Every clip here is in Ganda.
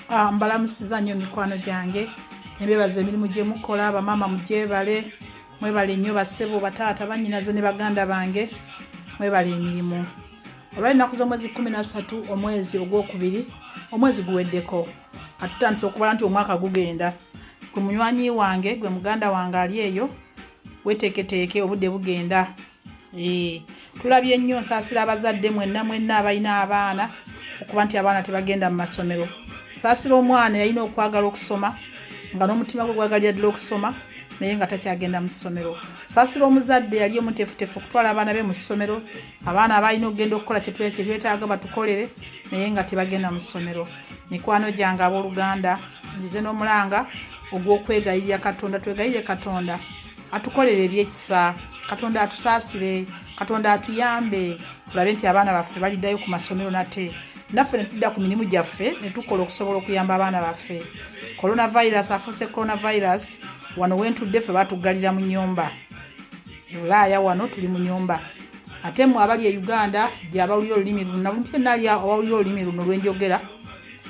Ah, mbalamusiza nnyo mikwano gyange nebebaza emirimu gyemukola bamaama mugyebale mwebale nnyo basebo bataata banyinaze ne baganda bange mwebale emirimu olwalinaku z'omwezi 13 omwezi ogwokubiri omwezi guweddeko atutandisa okubala nti omwaka gugenda gwe munywanyi wange gwe muganda wange ali eyo weteeketeeke obudde bugenda Eh, tulabye nnyo nsaasira abazadde mwenna mwenna abalina abaana okuba nti abaana tebagenda mu masomero nsaasira omwana yalina okwagala okusoma nga n'omutima gwe gwagalira ddala okusoma naye nga takyagenda mu ssomero saasira omuzadde yali omutefutefu okutwala abaana be mu ssomero abaana abalina okugenda okukola kyetwetaaga batukolere naye nga tebagenda mu ssomero mikwano gyange abooluganda nzize n'omulanga ogw'okwegayirira katonda twegayire katonda atukolere ebyekisa katonda atusaasire katonda atuyambe tulabe nti abaana baffe baliddayo ku masomero nate naffe netudda ku mirimu gyaffe netukola okusobola okuyamba abaana baffe coronavirus afuuse coronavirus wano wentudde fe batuggalira mu nyumba ebulaaya wano tuli mu nyumba ate mwe abali e uganda gyabawulira olulimi luno nabunali abawulira olulimi luno lwenjogera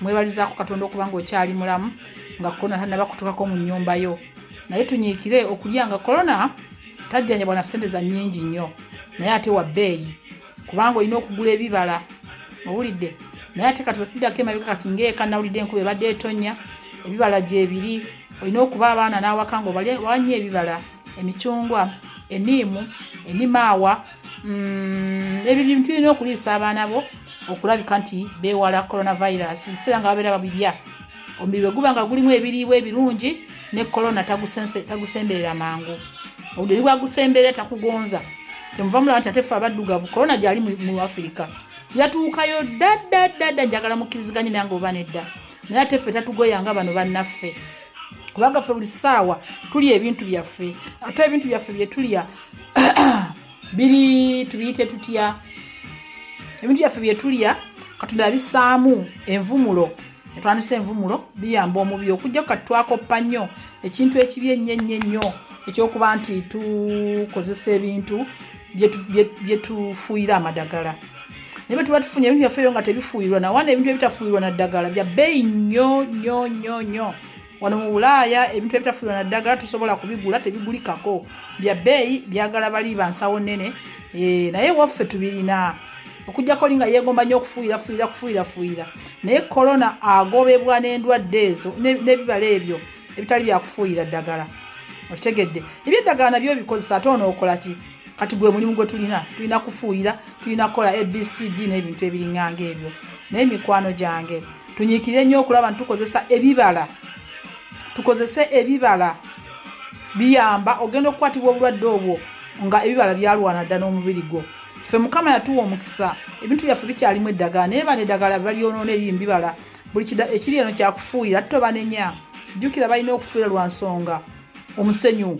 mwebalizaako katonda okuba nga okyali mulamu nga kona tanabakutukako mu nyumba yo naye tunyiikire okulya nga korona tajjanjabwa na ssente za nnyingi nnyo naye ate wa bbeeyi kubanga olina okugula ebibala owulidde naye ate kati wetuddako emabika kati ngaeka nawulidde enkuba ebadde etonya ebibala gyebiri olina okuba abaana n'awaka nga wanya ebibala emicungwa eniimu enimaawa mm, ebyo bintu birina okuliisa abaana bo okulabika nti bewala coronavirus ebiseera nga babeera babirya omubiri bwe guba nga gulimu ebiriibwa ebirungi ne kolona tagusemberera mangu obudde bwagusemberera takugonza kyemuva mulaba nti ate fe abaddugavu kolona gyali mu afirika yatuukayo ddaddadda njagala mukkiriziganye nange oba nedda naye ate ffe tatugoyanga bano bannaffe kubanga ffe buli ssaawa tulya ebintu byaffe ate ebintu byaffe byetulya biri tubiyite tutya ebintu byaffe byetulya katonda yabisaamu envumulo etwanisa envumulo biyamba omubiri okujja ku kati twakoppa nnyo ekintu ekibi ennyo ennyo ennyo ekyokuba nti tukozesa ebintu byetufuuyira amadagala naye bwetuba tufunye ebintu byaffe ebyo nga tebifuuyirwa nawana ebintu ebitafuuyirwa na ddagala bya bbeeyi nnyo nnyo nnyo nnyo wano mu bulaaya ebintu ebitafuirwa na ddagala tusobola kubigula tebigulikako bya bbeeyi byagala bali bansawo nnene eh, naye waffe tubirina okujjako linga yeegomba nnyo okufuuyira fuuyira kufuuyira fuuyira naye korona agobebwa n'endwadde ezo n'ebibala ebyo ebitali byakufuuyira ddagala okitegedde ebyeddagala nabyo bikozesa ate onookola ki kati gwe mulimu gwe tulina tulina kufuuyira tulina kukola abcd n'ebintu ebiringanga ebyo naye mikwano gyange tunyiikire nnyo okulaba nti tukozesa ebibala tukozese ebibala biyamba ogenda okukwatibwa obulwadde obwo nga ebibala byalwana dda n'omubiri gwo ffe mukama yatuwa omukisa ebintu byaffe bikyalimu eddagala naye bana eddagala balyonoona eri mubibala buli ekiri eno kyakufuuyira ate tobanenya jjukira balina okufuuyira lwa nsonga omusenyu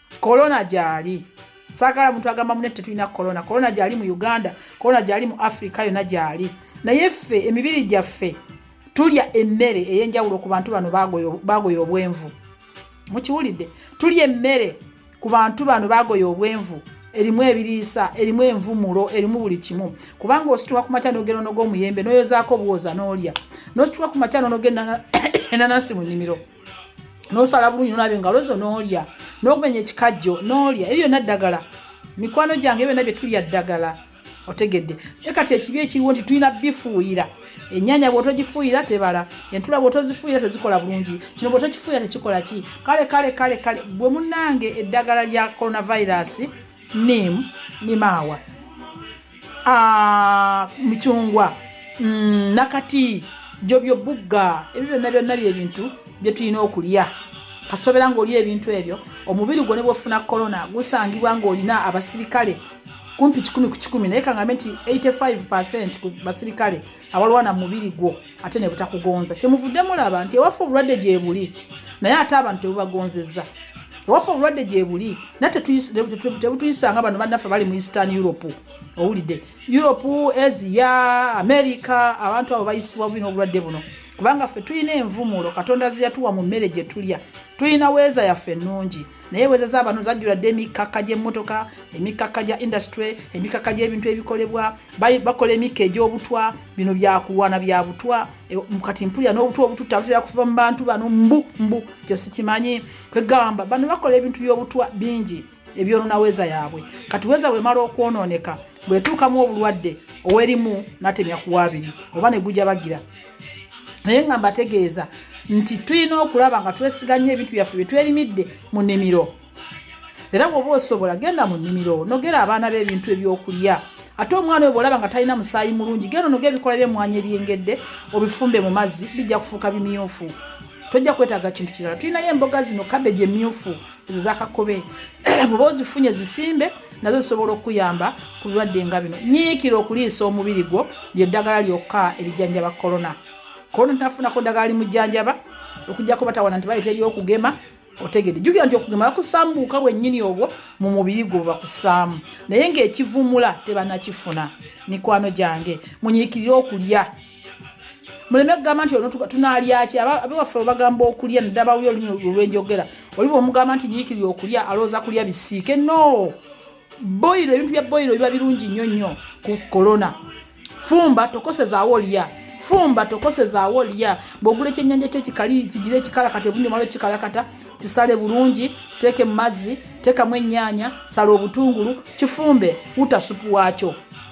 kolona gyali saagala muntu agamba mune tetulina kolona kolona gyali mu uganda kolona gyali mu afirika yona gyali naye ffe emibiri gyaffe tulya emmere ey'enjawulo ku bantu bano bagoya obwenvu mukiwulidde tulya emmere ku bantu bano bagoya obwenvu erimu ebiriisa erimu envumulo erimu buli kimu kubanga osituka ku makya nogenda onoga omuyembe noyozaako obuwoza n'olya nosituka ku makya nonoga enanasi mu nnimiro nosala bulungi nolaba engalo zo nolya nokumenya ekikajjo nolya ebyo byonna ddagala mikwano gyange byonna byetulya ddagala otegedde naye kati ekibi ekiriwo nti tulina bifuuyira ennyanya bwotogifuuyira tebala entula bwotozifuuyira tezikola bulungi kino bwotokifuuyira tekikola ki kale kale kale kale bwe munange eddagala lya coronavirus Neem ni maawa, ah, micungwa, mm, nakati, jobyo bugga, ebyo byonna byonna byebintu bye tulina okulya. Kasita obeera ng'olya ebintu ebyo, omubiri gwo ne bw'ofuna kolona gusangibwa ng'olina abasirikale kumpi kikumi ku kikumi naye kangambe nti 85 percent ku basirikale awalwana mubiri gwo ate ne butakugonza kyemuvudde mulaba nti ewaffe obulwadde gyebuli naye ate abantu tebubagonzeza ewaffe obulwadde gyebuli naye tebutuyisanga bano bannaffe bali mu eastern europe owulidde europe asia america abantu abo bayisibwa bubi n'obulwadde buno kubanga ffe tulina envumulo katonda zeyatuwa mu mmere gye tulya tulina weeza yaffe ennungi naye wezeza bano zajjula dde emikkakka gy'emmotoka emikkakka gya industry emikkakka gy'ebintu ebikolebwa bakola emikka egy'obutwa bino byakulwana bya butwa e, kati mpulira n'obutwa obututta butera kuva mu bantu bano mbu mbu kyo sikimanyi kwegamba bano bakola ebintu by'obutwa bingi ebyonona weza yaabwe kati weza bwemala okwonooneka bwetuukamu obulwadde owerimu natemya kuwaabiri oba ne gujabagira naye nga mbategeeza nti tulina okulaba nga twesiga nnyo ebintu byaffe bye twerimidde mu nnimiro era bw'oba osobola genda mu nnimiro nogera abaana be ebintu ebyokulya ate omwana oyo bwolaba nga talina musaayi mulungi genda onoga ebikola byemwanyi ebyengedde obifumbe mu mazzi bijja kufuuka bimyufu tojja kwetaaga kintu kirala tulinayo emboga zino kabeji emyufu zakakobe bwoba ozifunye zisimbe nazo zisobola okuyamba ku birwadde nga bino nyiikira okuliisa omubiri gwo lyeddagala lyokka erijjanjaba kolona kolona tinafunako ddagala limujjanjaba okujjako batawana nti bali teri okugema otegede jukira nti okugema bakusambuuka bwennyini obwo mu mubiri gwo bakusaamu naye ngaekivumula tebanakifuna mikwano gyange munyiikirire okulya muleme kugamba nti onotuka tunalyaki abewaffe bagamba okulya nadabawulya olumi olwenjogera oli bwomugamba nti nyikiri okulya alowooza kulya bisiike no boyiro ebintu bya boyiro biba birungi nnyo nnyo ku kolona fumba tokosezaawo olya fumba tokosezaawo olya bwogula ekyenyanja kyo kikali kigira ekikala kati obundi omala okikala kata kisale bulungi kiteeke mu mazzi teekamu ennyaanya sala obutungulu kifumbe wuta supu waakyo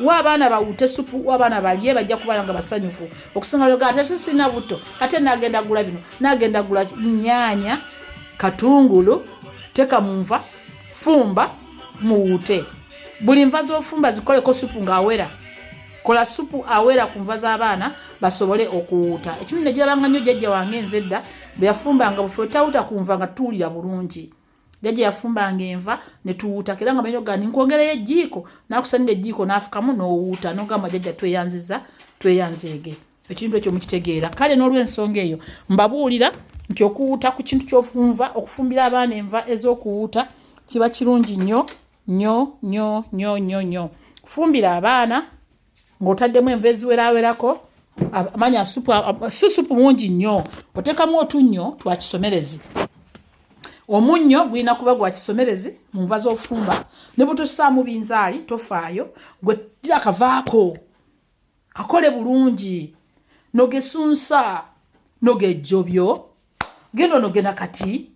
wa abaana bawute supu wa abaana balye bajja kubala nga basanyufu okusinga loga ate sisina buto ate nagenda gula bino nagenda gula nyanya katungulu teka munva fumba muwute buli nva zofumba zikoleko supu ngaawera kola supu awera ku nva z'abaana basobole okuwuuta ekimu negirabanga nnyo jjajja wange nze edda bwe yafumbanga bufe otawuta ku nva nga tuwulira bulungi jajja yafumbanga enva netuwuutako era nga manyi ogamba ninkwongerayo ejjiiko nakusanira ejjiiko nafukamu nowuuta nogamba jajja tweyanziza tweyanzeege ekintu ekyo mukitegeera kale n'olwensonga eyo mbabuulira nti okuwuuta ku kintu kyofunva okufumbira abaana enva ez'okuwuuta kiba kirungi nnyo nnyo nnyo nnyo nnyo nnyo kufumbira abaana ng'otaddemu enva eziwerawerako amanya supu si supu mungi nnyo oteekamu otunnyo twa kisomerezi omunnyo gulina kuba gwa kisomerezi mu nva z'ofumba ne butussaamu binzaali tofaayo gwe tira kavaako kakole bulungi nogesunsa nogejjobyo genda onogena kati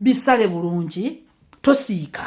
bisale bulungi tosiika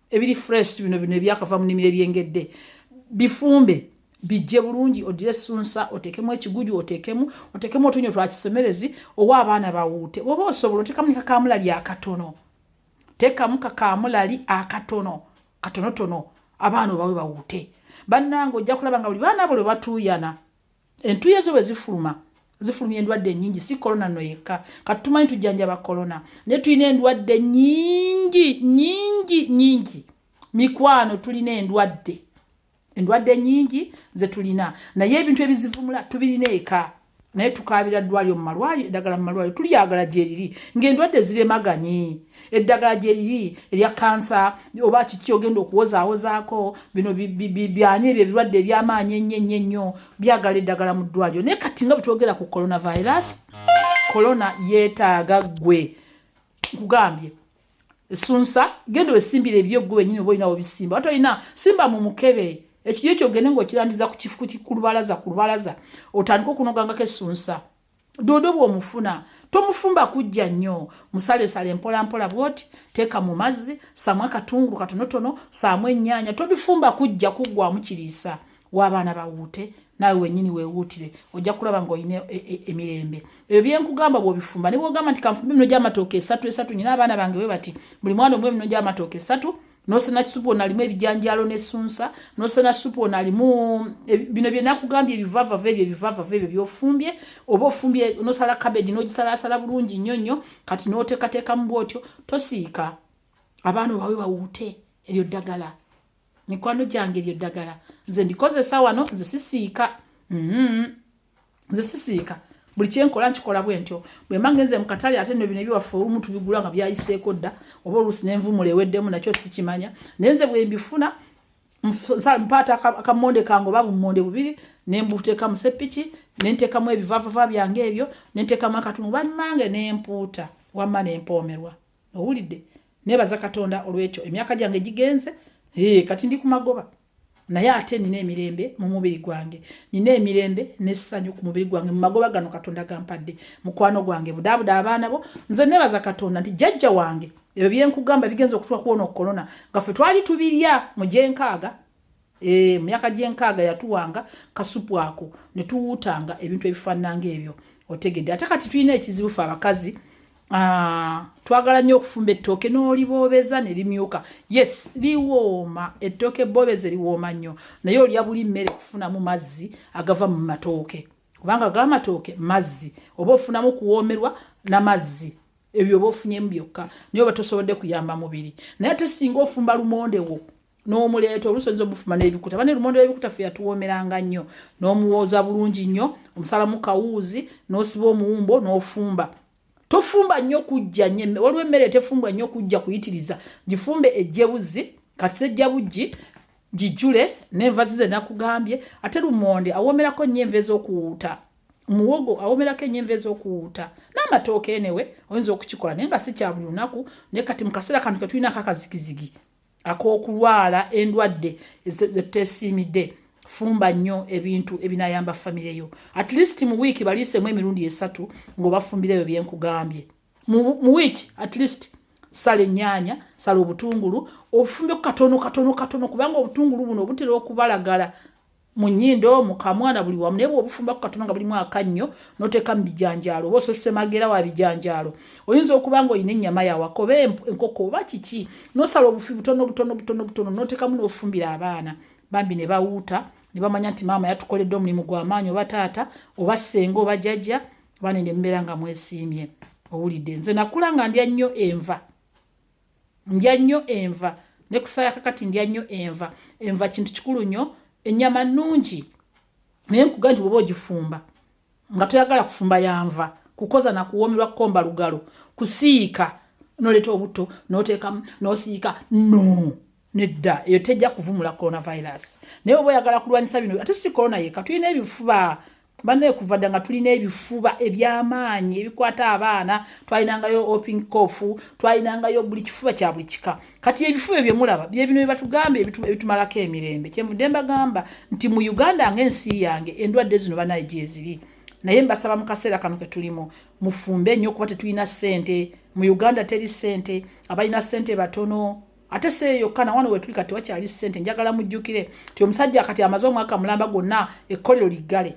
ebiri fresh bino bino ebyakava mu nimiro ebyengedde bifumbe bijje bulungi odire sunsa otekemu ekiguju otekemu otekemu otunyo twa kisemerezi owa abaana bawuute oba osobola otekamu ne kakamulali akatono tekamu kakamulali akatono katonotono abaana obawe bawuute bannange ojja kulaba nga buli baana buli batuuyana entuye zo bwe zifuluma zifulumya endwadde enyingi si kolona no yekka kati tumanyi tujjanjaba kolona naye tulina endwadde nyingi nyingi nyingi mikwano tulina endwadde endwadde nyingi ze tulina naye ebintu ebizivumula tubirina eka naye tukaabira ddwaliro mu malwaliro eddagala mu malwaliro tulyagala gyeriri ng'endwadde ziremaganyi eddagala gyeriri erya kansa oba kiki ogenda okuwozaawozaako bino byani ebyo ebirwadde ebyamaanyi ennyo ennyo ennyo byagala eddagala mu ddwaliro naye kati nga bwetwogera ku coronavirus corona yeetaaga ggwe nkugambye esunsa genda wesimbira ebyeggwe wenyini oba olinawo bisimba ate olina simba mu mukebe ekiryo kyogende ngaokirandiza ku lubalaza ku lubalaza otandika okunogangako esunsa dodo bwomufuna tomufumba kujja nnyo musalesale mpolampola bwoti teeka mu mazzi saamu akatungulu katonotono saamu ennyaanya tobifumba kujja kuggwamu kiriisa w'abaana bawuute naawe wenyini wewuutire ojja kulaba ngaolina e, e, emirembe ebyo byenkugamba bwobifumba ne bwogamba nti kanfumbe emino gyamatooka esatu esatu nyina abaana bange bwe bati buli mwana omu emino gyamatooka esatu nosena supu ono alimu ebijanjaalo nesunsa nosena supu ono alimu e, bino byenakugambye ebivavava ebyo ebivavava ebyo byofumbye oba ofumbye nosala kabegi nogisalaasala bulungi nnyo nnyo kati notekateekamu bwotyo tosiika abaana obawe bawuute eryo ddagala mikwano gyange eryo ddagala nze ndikozesa wano nze sisiika mm -hmm. nze sisiika buli kyenkola nkikola bwe ntyo bwe mba ngenze mu katale ate no bino ebiwaffe olumu tubigula nga byayiseeko dda oba oluusi nenvumula eweddemu nakyo sikimanya naye nze bwe mbifuna mpaata akamonde kange oba bumonde bubiri nembuteeka mu seppiki nenteekamu ebivavava byange ebyo nenteekamu akatundu bannange nempuuta wamma nempoomerwa owulidde nebaza katonda olwekyo emyaka gyange gigenze kati ndi ku magoba naye ate nina emirembe mu mubiri gwange nina emirembe n'essanyu ku mubiri gwange mu magoba gano katonda gampadde mukwano gwange budaabuda abaana bo nze nebaza katonda nti jjajja wange ebyo byenkugamba bigenza okutula kuwona okukolona nga ffe twali tubirya mu gyenkaaga eh, mu myaka gyenkaaga yatuwanga kasupu ako ne tuwuutanga ebintu ebifaanana ngaebyo otegedde ate kati tulina ekizibu fe abakazi Ah, twagala nnyo okufumba ettooke n'oliboobeza ne limyuka yes liwooma ettooke boobeze liwooma nnyo naye olya buli mmere kufunamu mazzi agava mu matooke kubanga ga matooke mazzi oba ofunamu kuwoomerwa na mazzi ebyo oba ofunyemu byokka naye oba tosobodde kuyamba mubiri naye ate singa ofumba lumondewo n'omuleeta oluusi oyinza omufuma n'ebikuta bane lumonde w'ebikuta fe yatuwoomeranga nnyo n'omuwooza bulungi nnyo omusalamu kawuuzi n'osiba omuwumbo n'ofumba tofumba nnyo kujja nyo waliwo emmere tefumbwa nnyo kujja kuyitiriza gifumbe ejjebuzzi kati sejja bujji gijjule n'enva zize nakugambye ate lumonde awoomerako nnyo enva ez'okuwuuta muwogo awomerako enyemva ezokuwuuta n'amatooka enewe oyinza okukikola naye nga si kya buli lunaku naye kati mu kaseera kano ketulinako akazigizigi ak'okulwala endwadde zetuteesiimidde fumba nnyo ebintu ebinayamba famire yo at least mu wiiki baliisemu emirundi esatu ng'obafumbira ebyo byenkugambye mu wiiki at least sala ennyaanya sala obutungulu ofumbe ku katono katono katono kubanga obutungulu buno obutera okubalagala mu nnyindo mu kamwa na buli wamu naye bw'obufumba ku katono nga bulimu akannyo n'oteeka mu bijanjaalo oba osose magera wa bijanjaalo oyinza okuba nga olina ennyama yawaka oba enkoko oba kiki n'osala obufi butono butono butono butono n'oteekamu n'ofumbira abaana bambi ne bawuuta ne bamanya nti maama yatukoledde omulimu gw'amaanyi oba taata oba ssenga oba jjajja abaana ne mbeera nga mwesiimye owulidde nze nakula nga ndya nnyo enva ndya nnyo enva ne kusaya kakati ndya nnyo enva enva kintu kikulu nnyo ennyama nnungi naye nkuga nti bwoba ogifumba nga toyagala kufumba yanva kukoza na kuwoomerwa kukomba lugalo kusiika noleeta obutto noteekamu nosiika no nedda eyo tejja kuvumula coronavirus naye oba oyagala kulwanyisa bino ate si corona yeka tulina ebifuba banaye kuva dda nga tulina ebifuba ebyamaanyi ebikwata abaana twalinangayo oping cof twalinangayo buli kifuba kya buli kika kati ebifuba ebyo mulaba byebino byebatugambye ebitumalako emirembe kyenvudde mbagamba nti mu uganda nga ensi yange endwadde zino banaye gyeziri naye mbasaba mu kaseera kano ke tulimu mufumbe nnyo kuba tetulina ssente mu uganda teri ssente abalina ssente batono ate si eyo yokka na wano wetuli kati wakyali ssente njagala mujjukire ti omusajja kati amaze omwaka mulamba gwonna ekkolero liggale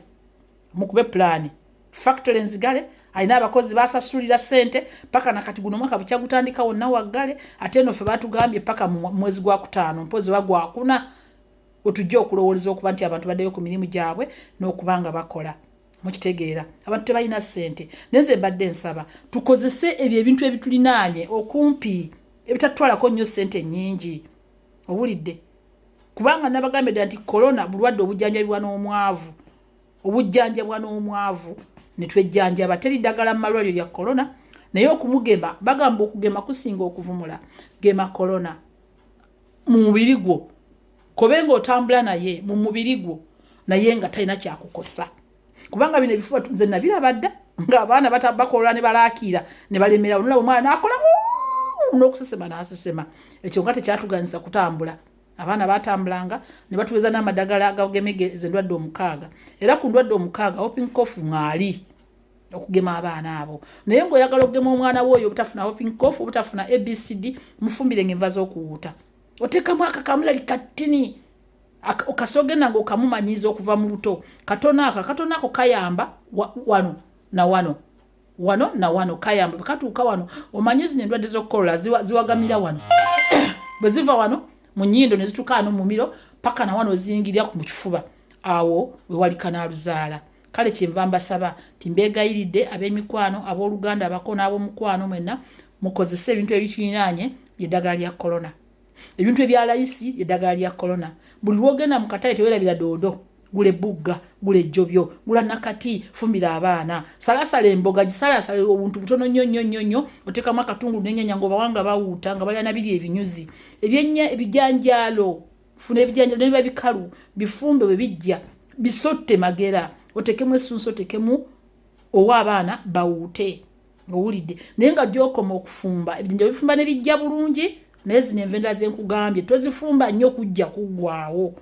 mukube pulaani factory nzigale alina abakozi basasulira ssente paka nakati guno omwaka bukya gutandika wonna waggale ate eno ffe batugambye paka mu mwezi gwa kutaano mpozi oba gwakuna wetujja okulowooleza okuba nti abantu baddeyo ku mirimu gyabwe n'okuba nga bakola mukitegeera abantu tebalina ssente naye ze mbadde nsaba tukozese ebyo ebintu ebitulinaanye okumpi ebitatutwalako nnyo ssente nnyingi owulidde kubanga nabagambye dda nti korona bulwadde obujjanjabibwa n'omwavu obujjanjabwa n'omwavu ne twejjanjaba teri ddagala mu malwaliro lya korona naye okumugema bagamba okugema kusinga okuvumula gema korona mu mubiri gwo kobe nga otambula naye mu mubiri gwo naye nga talina kyakukosa kubanga bino ebifuba nze nabiraba dda ngaabaana bakola ne balakiira ne balemerawo nolaba omwana nakola n'okusesema n'asesema ekyo nga tekyatuganyisa kutambula abaana batambulanga ne batuweza n'amadagala agagemegeza endwadde omukaaga era ku ndwadde omukaaga hoping cof ngaali okugema abaana abo naye ngaoyagala okugema omwana we oyo obutafuna hopincof obutafuna abcd mufumbire nga enva zokuwuuta otekamu akakamulali kattini okasi ogenda nga okamumanyiiza okuva mu luto katono ako akatono ako kayamba wano na wano wano na wano kayamba bwekatuuka wano omanyi zino endwadde zokukolola ziwagamira wano bwe ziva wano mu nyindo ne zituuka wano mu mumiro paka na wano ozingirira mu kifuba awo wewali kanaaluzaala kale kyenva mbasaba nti mbeegayiridde ab'emikwano ab'oluganda abako n'ab'omukwano mwenna mukozese ebintu ebitulinaanye byeddagala lya kolona ebintu ebyalayisi eddagala lya kolona buli lwogenda mu katale tewerabira doodo gula ebbugga gula ejjobyo gula nakati fumbira abaana salasala emboga gisalasala obuntu butono nnyo nnyo nnyo nnyo oteekamu akatungulu nenyanya ngaobawanga bawuuta nga balya nabiri ebinyuzi ebyennya ebijanjaalo funa ebijanjalo nebiba bikalu bifumbe bwe bijja bisotte magera otekemu esunsu otekemu owa abaana bawuute owulidde naye nga gyokoma okufumba ebijanjalo bifumba ne bijja bulungi naye zino envenda zenkugambye tozifumba nnyo kujja kuggwawo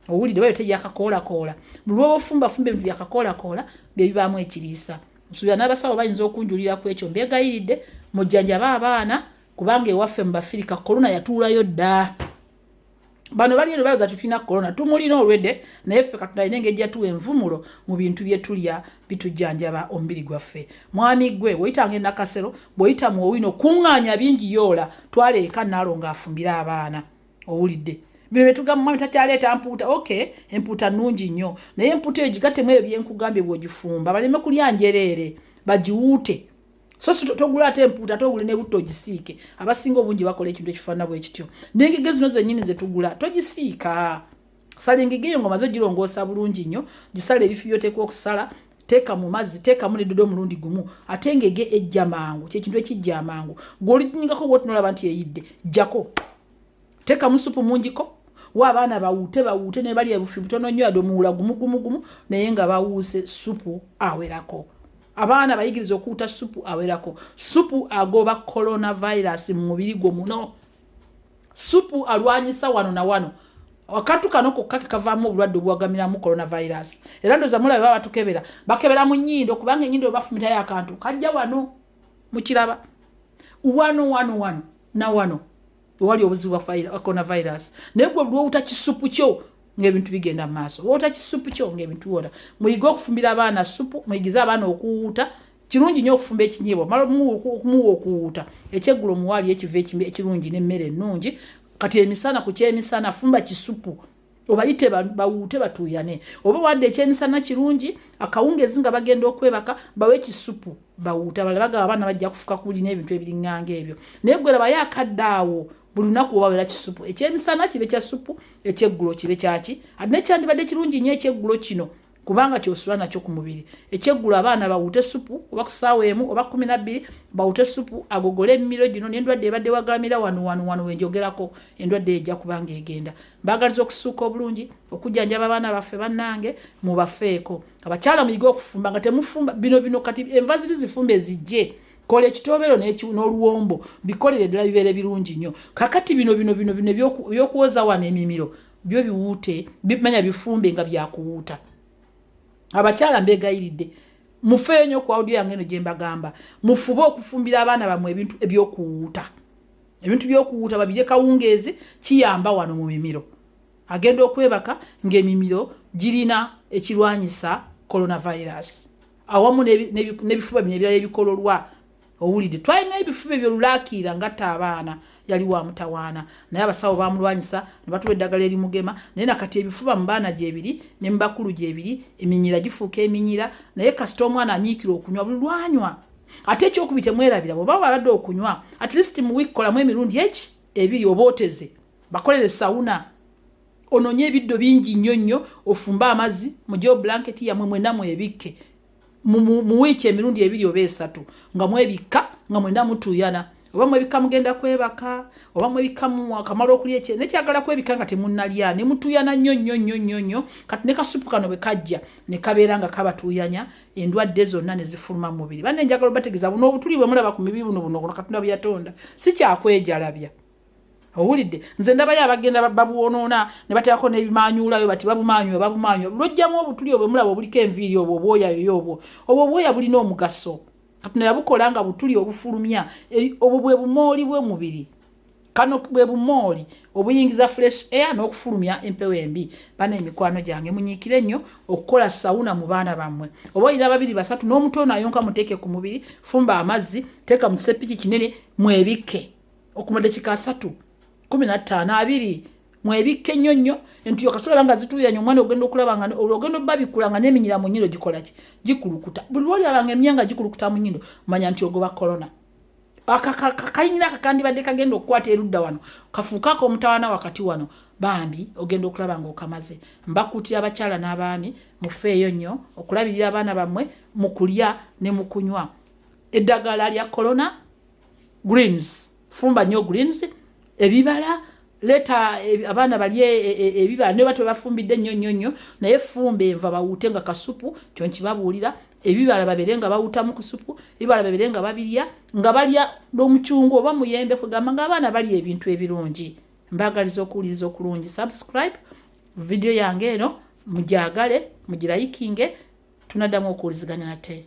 owulidde bayo teyakakoolakoola mulwoba ofumbafumba ebintu byakakoolakoola byebibaamu ekiriisa nsuubira n'abasawo bayinza okunjulira ku ekyo mbegayiridde mujjanjaba abaana kubanga ewaffe mu bafirika kolona yatuulayo dda bano bali eno bayoza tutulina corona tumulina olwedde naye ffe katonda alina engeri jatuwa envumulo mu bintu byetulya bitujjanjaba omubiri gwaffe mwami gwe bwoyitanga enakasero bwoyita mu owino kuŋŋaanya bingi yoola twala eka naalo ng'afumbire abaana owulidde bino byetugamba mwami takyaleeta mpuuta ok empuuta nnungi nnyo naye empuuta eyo gigatemu ebyo byenkugambye bwogifumba baleme kulya njereere bagiwuute so si togula ate empuuta ate ogule nebutto ogisiike abasinga obungi bakola ekintu ekifaana bwe kityo nengege zino zennyini zetugula togisiika sala engege eyo ngomaze ogirongoosa bulungi nnyo gisala ebifi byoteekwa okusala teeka mu mazzi teekamu nedodo omulundi gumu ate ngege ejja mangu kyekintu ekijja amangu gweolinyingako bwotinolaba nti eyidde jjako teekamu supu mungiko wa abaana bawuute bawuute nebalya ebufi butono nnyo yade omuwula gumugumugumu naye nga bawuuse supu awerako abaana bayigiriza okuwuta supu awerako supu agoba coronavirus mu mubiri gwo muno supu alwanyisa wano na wano akantu kano kokka kekavaamu obulwadde obuwagamiramu coronavirus era ndoza mulaba ba batukebera bakebera mu nyindo kubanga enyindo bafumitayo akantu kajja wano mukiraba wano wano wano na wano wewali obuzibu bwa coronavirus naye gwe lwowuta kisupu kyo ngaebintu bigenda mu maaso wowuta kisupu kyo ngaebintu biwona muyige okufumbira abaana supu muyigize abaana okuwuuta kirungi nyo okufumba ekinyiibwa mala okumuwa okuwuuta ekyeggulo omuwaali ekiva ekirungi nemmere ennungi kati emisana ku kyemisana fumba kisupu obayite bawuute batuuyane oba wadde ekyemisana kirungi akawungezi nga bagenda okwebaka bawe ekisupu bawuute abala bagaba abaana bajja kufuka kuli n'ebintu ebiringanga ebyo naye gwe labayo akadde awo buli lunaku obawera kisupu ekyemisana kibe kya supu ekyeggulo kibe kyaki ate nekyandibadde kirungi nnyo ekyeggulo kino kubanga kyosula nakyo ku mubiri ekyeggulo abaana bawute supu oba ku ssaawa emu oba kumi nabbiri bawute supu agogole emimiro gino n'endwadde ebadde wagalamira wano wano wano wenjogerako endwadde ejja kubanga egenda mbaagaliza okusuuka obulungi okujjanjaba abaana baffe bannange mubafeeko abakyala muyige okufumba nga temufumba bino bino kati enva ziri zifumba ezijje kola ekitobero n'oluwombo bikolere ddala bibeere birungi nnyo kakati bino bino bino bino ebyokuwoza wano emimiro byo biwuute bimanya bifumbe nga byakuwuuta abakyala mbegayiridde mufeeyo nyo ku audio yange eno gyembagamba mufube okufumbira abaana bamwe ebintu ebyokuwuuta ebintu byokuwuuta babirye kawungeezi kiyamba wano mu mimiro agenda okwebaka ng'emimiro girina ekirwanyisa coronavirus awamu n'ebifuba bino ebirala ebikololwa owulidde twalina ebifuba ebyo lulakiira ngatta abaana yali wa mutawaana naye abasawo bamulwanyisa ne batuwa eddagala erimugema naye nakati ebifuba mu baana gyebiri ne mu bakulu gyebiri eminyira gifuuka eminyira naye kasita omwana anyiikira okunywa bulwanywa ate ekyokubi temwerabira bweoba wabadde okunywa at least mu wiiki kolamu emirundi eki ebiri oba oteze bakolere sawuna ononye ebiddo bingi nnyo nnyo ofumbe amazzi mugyewo blanketi yamwe mwenamu ebikke mu wiiki emirundi ebiri oba esatu nga mwebikka nga mwena mutuuyana oba mwebikka mugenda kwebaka oba mwebikka mukamala okulya ekye naye kyagala kwebikka nga temunalya ne mutuuyana nnyo nnyo nnyo nnyo nnyo kati ne kasupu kano bwe kajja ne kabeera nga kabatuuyanya endwadde zonna ne zifuluma mu mubiri banne njagala obategeeza buno obutuli bwe mulaba ku mibiri buno buno buno katonda bwe yatonda si kyakwejalabya owulidde nze ndabayo abagenda babwonoona ne bateekako n'ebimanyuulayo bati babumanyuyo babumanyuyo lwojjamu obutuli obwe mulaba obuliko enviiri obwo obwoya yoyo obwo obwo obwoya bulina omugaso katonda yabukola nga butuli obufulumya obwo bwe bumooli bw'omubiri kano bwe bumooli obuyingiza fresh air n'okufulumya empewo embi bana emikwano gyange munyiikire nnyo okukola sawuna mu baana bammwe oba olina babiri basatu n'omutoona ayonka muteeke ku mubiri fumba amazzi teeka mu kisepiki kinene mwebikke okumala dakika asatu kumi nattaano abiri mwebikke nnyo nnyo entiyo kasula banga zituuyanya omwana ogenda okulaba nga ogenda obabikkula nga n'eminyira mu nnyindo gikola ki gikulukuta buli lwolaba nga emyanga gikulukuta mu nnyindo manya nti ogoba korona akakayinira kakandibadde kagenda okukwata erudda wano kafuuka ako omutawana wakati wano bambi ogenda okulaba nga okamaze mbakuutira abakyala n'abaami mufeeyo nnyo okulabirira abaana bammwe mu kulya ne mu kunywa eddagala lya korona greens fumba nyo greens ebibala leta e, abaana balye e, e, ebibala ne batu bafumbidde nnyo nnyo nnyo naye fumba enva bawuute nga kasupu kyo nkibabuulira ebibala babere nga bawutamu ku supu ebibala babere nga babirya nga balya n'omucungu oba muyembe kugamba nga abaana balya ebintu ebirungi mbagaliza okuwuliriza okulungi subscribe vidiyo yange eno mugyagale mugirayikinge tunaddamu okuwuliziganya nate